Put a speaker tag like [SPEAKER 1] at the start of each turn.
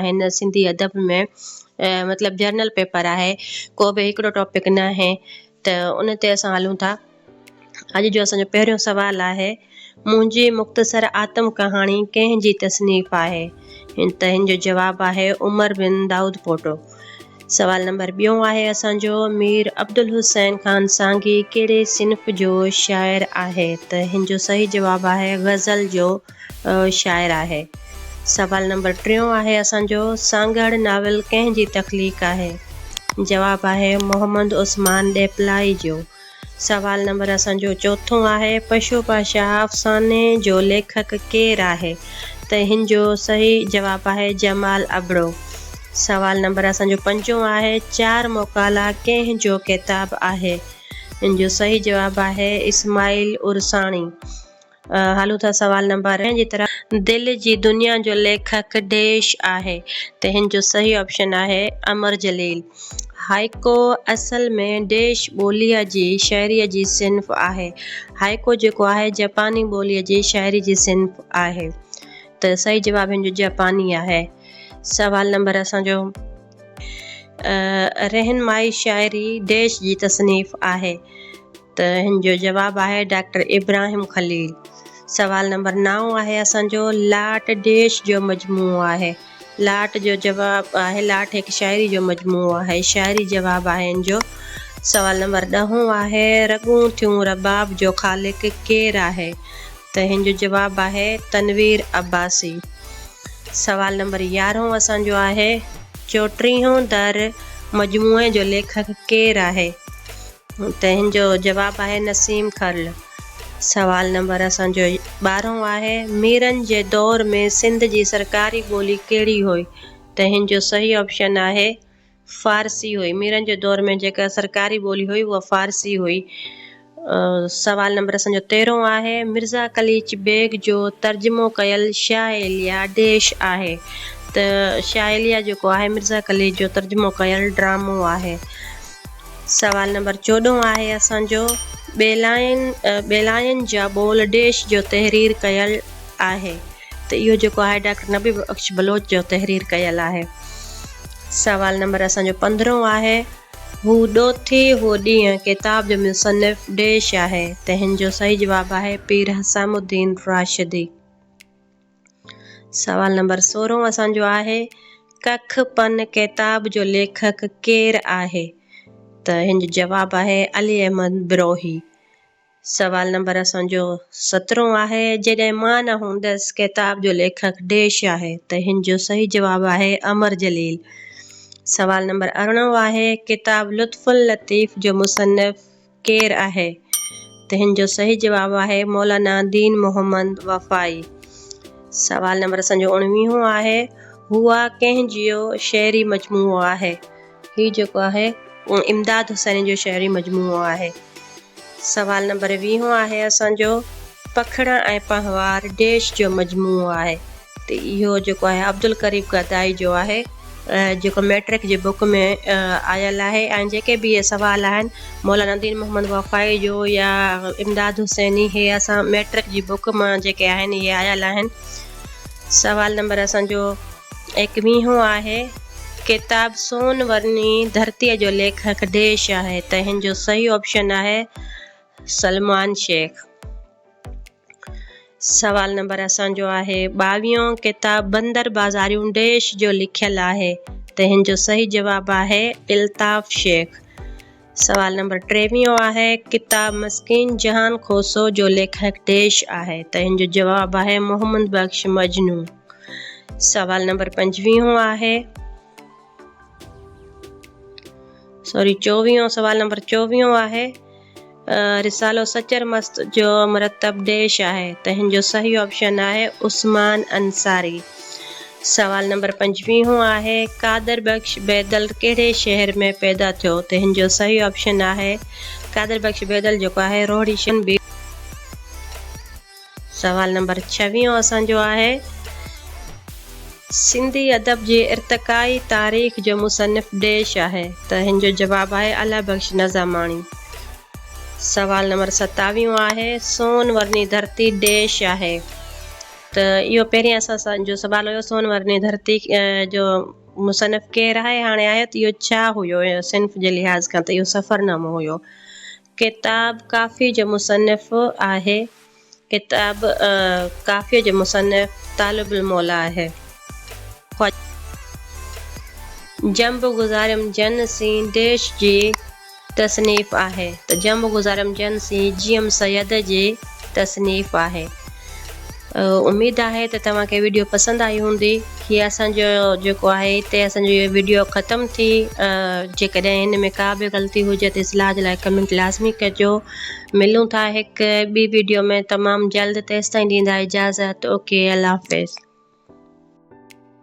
[SPEAKER 1] آهن سنڌي ادب ۾ مطلب جرنل پيپر آهي ڪو به هڪڙو ٽاپڪ نه آهي ته ان تي اسان هلون ٿا اڄ جو اسان جو پهريون سوال آهي منهنجي مختصر آتم ڪهاڻي ڪنهن جي تصنيف آهي هن ته هن جو جواب آهي عمر بن داود پوٽو سوال نمبر ٻيون آهي اسان جو مير عبدالحسين خان سانگي ڪهڙي صنف جو شاعر آهي ته هن جو صحيح جواب آهي غزل جو شاعر آهي. سوال نمبر ٽيون آهي اسان جو سانگهڙ ناول ڪنهن جي تخليق آهي؟ جواب آهي محمد عثمان ڏيپلائي جو. سوال نمبر اسان جو چوٿون آهي پشو پا شاهه افساني جو ليکڪ ڪير آهي؟ ته هن جو صحيح جواب آهي جمال ابڙو. سوال نمبر اسان جو پنجون آهي چار مقالا ڪنهن جو ڪتاب آهي؟ ان جو صحيح جواب آهي اسماعيل عرساڻي. هلون ٿا سوال نمبر ۽ جي طرح دل جي دنيا جو ليکڪ ڊيش آهي ته هن جو صحيح آپشن آهي امر جليل هائيڪو اصل ۾ ڊيش ٻوليء جي شاعريء جي صنف آهي هائيڪو جيڪو آهي جپاني ٻوليء جي شاعري جي صنف آهي ته صحيح جواب هن جو جپاني آهي سوال نمبر اسان جو رهنمائي شاعري ڊيش جي تصنيف آهي ته هن جو جواب آهي ڊاڪٽر ابراهيم خليل. سوال نمبر نائون آهي اسان جو لاٽ ڊيش جو مجموعو آهي. لاٽ جو جواب آهي لاٽ هڪ شاعري جو مجموعو آهي. شاعري جواب آهي هن جو. سوال نمبر ڏهون آهي رڳون ٿيون رباب جو خالق ڪير آهي؟ ته هن جو جواب آهي تنوير عباسي. سوال نمبر يارهون اسان جو آهي چوٽيهون در مجموعي جو ليکڪ ڪير آهي؟ تنهن جو جواب آهي نسيم کرل. سوال نمبر اسان جو ٻارهون آهي، ميرن جي دور ۾ سنڌ جي سرڪاري ٻولي ڪهڙي هئي؟ تنهن جو صحيح آپشن آهي فارسي هئي. ميرن جي دور ۾ جيڪا سرڪاري ٻولي هئي اها فارسي هئي. سوال نمبر اسان جو تيرهون آهي، مرزا قليچ بيگ جو ترجمو ڪيل شاهه ايليا ڊيش آهي؟ ته شاهه ايليا جيڪو آهي مرزا قليچ جو ترجمو ڪيل ڊرامو آهي. سوال نمبر چوڏهن آهي اسان جو ٻيلاين ٻيلاين جا ٻول ڊيش جو تحرير ڪيل آهي ته اهو جيڪو آهي ڊاڪٽر نبي بخش بلوچ جو تحرير ڪيل آهي سوال نمبر اسان جو پندرهون آهي هو ڏوٿي هو ڏينهن ڪتاب جو مصنف ڊيش آهي تنهن جو صحيح جواب آهي پير حسام الدين راشدي سوال نمبر سورهون اسان جو آهي ڪک پن ڪتاب جو ليکڪ ڪير آهي ته هن جو جواب آهي علي احمد بروهي سوال نمبر اسان جو سترهون آهي جڏهن مان نه هوندس ڪتاب جو ليکڪ ڊيش آهي ته هن جو صحيح جواب آهي امر جليل سوال نمبر ارڙهون آهي ڪتاب لطف اللطيف جو مصنف ڪير آهي؟ تنهن جو صحيح جواب آهي مولانا دين محمد وفائي. سوال نمبر اسان جو اڻويهون آهي، هوء ڪنهن جيو شعري مجموعو آهي؟ هي جيڪو آهي امداد حسيني جو شعري مجموعو آهي. سوال نمبر ويهون آهي اسان جو، پکڙا ۽ پنهوار ڊيش جو مجموعو آهي؟ ته اهو جيڪو آهي عبدالقريب گدائي جو آهي جيڪو ميٽرڪ جي بڪ ۾ آيل آهي ۽ جيڪي به اهي سوال آهن مولانا دين محمد وفائي جو يا امداد حسيني هي اسان ميٽرڪ جي بڪ مان جيڪي آهن اهي آيل آهن سوال نمبر اسان جو ايڪويهون آهي ڪتاب سون ورني ڌرتي جو ليکڪ ڊيش آهي ته هن جو صحيح آپشن آهي سلمان شيخ سوال نمبر اسان جو آهي ٻاويهون ڪتاب بندر بازاريون ڊيش جو لکيل آهي تنهن جو صحيح جواب آهي الطاف شيخ سوال نمبر ٽيويهون آهي ڪتاب مسڪين جهان کوسو جو ليکڪ ڊيش آهي تنهن جو جواب آهي محمد بخش مجنو سوال نمبر پنجويهون آهي سوري چوويهون سوال نمبر چوويهون آهي رسالو سچر مست جو مرتب ديش آهي تنهن جو صحيح آپشن آهي عثمان انصاري سوال نمبر پنجويهون آهي قادر بخش بيدل ڪهڙي شهر ۾ پيدا ٿيو تنهن جو صحيح آپشن آهي قادر بخش بيدل جيڪو آهي روهڙي شن بي سوال نمبر ڇويهون اسان جو آهي، سنڌي ادب جي ارتقائي تاريخ جو مصنف ڊيش آهي ته هن جو جواب آهي الله بخش نظاماڻي. سوال نمبر ستاويهون آهي، سون ورني ڌرتي ڊيش آهي ته اهو پهرين اسان جو سوال هيو سون ورني ڌرتي جو مصنف ڪير آهي هاڻي آهي ته اهو ڇا هيو صنف جي لحاظ کان ته اهو سفرنامو هيو ڪتاب ڪافيء جو مصنف آهي. ڪتاب ڪافيء جو مصنف طالب الموليٰ آهي. خواجه. جنب گذاريم جن سين ديش جي تصنيف آهي ته جنب گذاريم جن سين جيئم سيد جي تصنيف آهي. اميد آهي ته توهان کي وڊيو پسند آئي هوندي هي اسان جو جيڪو آهي هتي اسان جو هي وڊيو ختم ٿي جيڪڏهن هن ۾ ڪا به غلطي هجي ته اصلاح جي لاء ڪمينٽ لازمي ڪجو ملون ٿا هڪ ٻي وڊيو ۾ تمام جلد تيستائين ڏيندا اجازت اوڪي الله حافظ